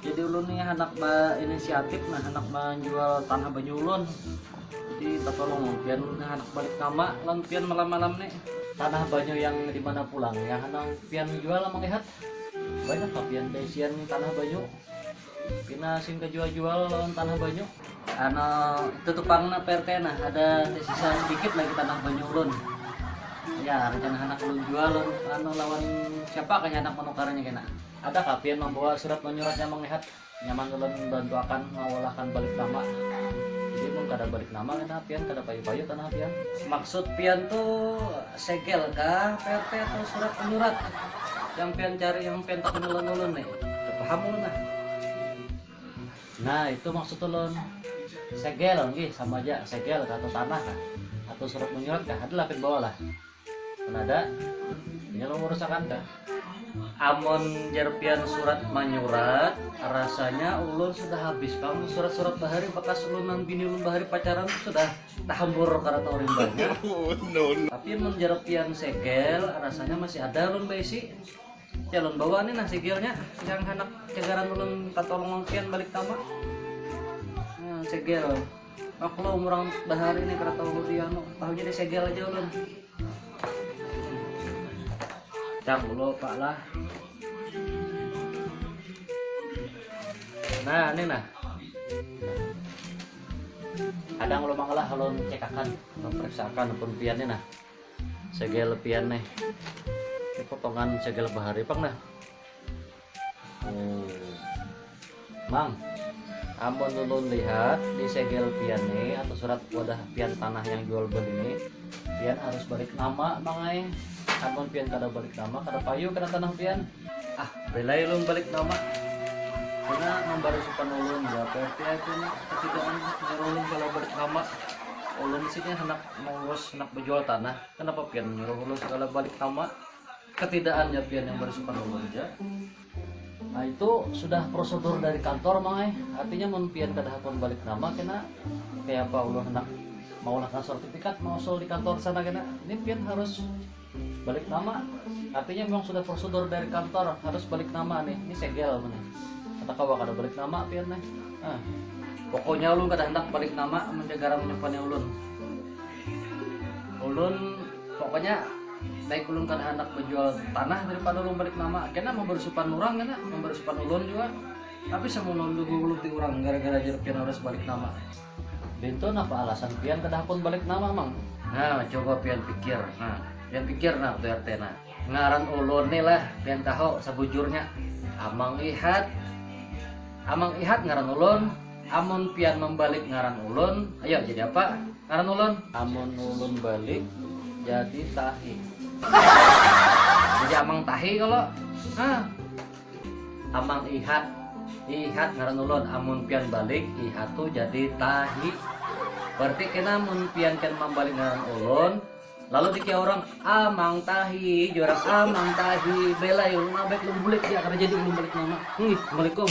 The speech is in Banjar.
jadi ulun nih anak inisiatif nah anak menjual tanah banyu ulun jadi tertolong pian nah anak balik nama lan pian malam-malam nih tanah banyu yang di mana pulang ya anak pian jual melihat banyak lah pian isian tanah banyu pina sing kejual-jual lawan tanah banyu ano tutupang na PRT nah ada sisa sedikit lagi tanah banyu ulun ya rencana anak ulun jual ano lawan siapa kaya anak menukarnya kena Ada kah pian mambawa surat manyurat nyaman lihat? Nyaman ulun bantu akan mawalahkan balik nama. Jadi mun kada balik nama kena pian kada payu-payu tanah pian. Maksud pian tu segel kah PRT atau surat menyurat yang pian cari yang pian takuni lawan ulun nih? Kada paham ulun nah. Nah itu maksud ulun. Segel, nggih sama aja segel kah atau tanah kah atau surat menyurat kah adalah pian bawa lah. Nada, ini lo urus akan dah. Amon Jerpian surat manyurat, rasanya ulun sudah habis bang surat-surat bahari bekas ulunan bini ulun bahari pacaran sudah tahambur karena tahu banyak. Oh, Tapi amon Jerpian segel, rasanya masih ada ulun baisi. Ya ulun bawa nih nah segelnya yang anak cagaran ulun katolong pian balik tama. Nah, segel. Maklum orang bahari ini kada tahu di anu, tahunya di segel aja ulun. Cang dulu pak lah. Nah ini nah. Kadang ulun mangalah ulun cekakan, memperiksakan pun pian nah. Segel pian nih. Potongan segel bahari pang nah. Mang, amun ulun lihat di segel pian ni atau surat wadah pian tanah yang jual beli ni, pian harus balik nama mang ai. Amun pian kada balik nama kada payu kena tanah pian. Ah, belai ulun balik nama. Pina mambari supan ulun jua pa RT ai pian katigaan jar ulun kalau balik nama. Ulun di sini handak mengurus handak bejual tanah, kenapa pian menyuruh ulun segala balik nama. ketidak'an ja pian yang bersifat umum ja, nah itu sudah prosedur dari kantor mang ai, artinya mun pian kada hakun balik nama kena kayapa ulun handak maulahkan sertifikat mausul di kantor sana kena ini pian harus balik nama artinya memang sudah prosedur dari kantor harus balik nama nih ini segel mana kata kawa kada balik nama pian nih ah. pokoknya ulun kada hendak balik nama menjaga menyimpannya ulun ulun pokoknya baik ulun kada handak bejual tanah daripada ulun balik nama kena membersupan orang kena membersupan ulun juga tapi semun ulun diguluti orang gara-gara jar pian harus balik nama Bintu napa alasan pian kada hakun balik nama mang nah coba pian pikir nah pian pikir nah tu RT nah ngaran ulun ni lah pian tahu sebujurnya Amang Ihat Amang Ihat ngaran ulun Amun pian mambalik ngaran ulun, ayo jadi apa ngaran ulun? Amun ulun balik jadi tahi. Jadi amang tahi kalo? Hah. Amang ihat. Ihat ngaran ulun, amun pian balik ihat tu jadi tahi. Berarti kena mun pian pian mambalik ngaran ulun. Lalu dikya urang amang tahi jar urang amang tahi belai ulun ma baik ulun bulik ja kada jadi ulun balik nama. Hih, assalamualaikum.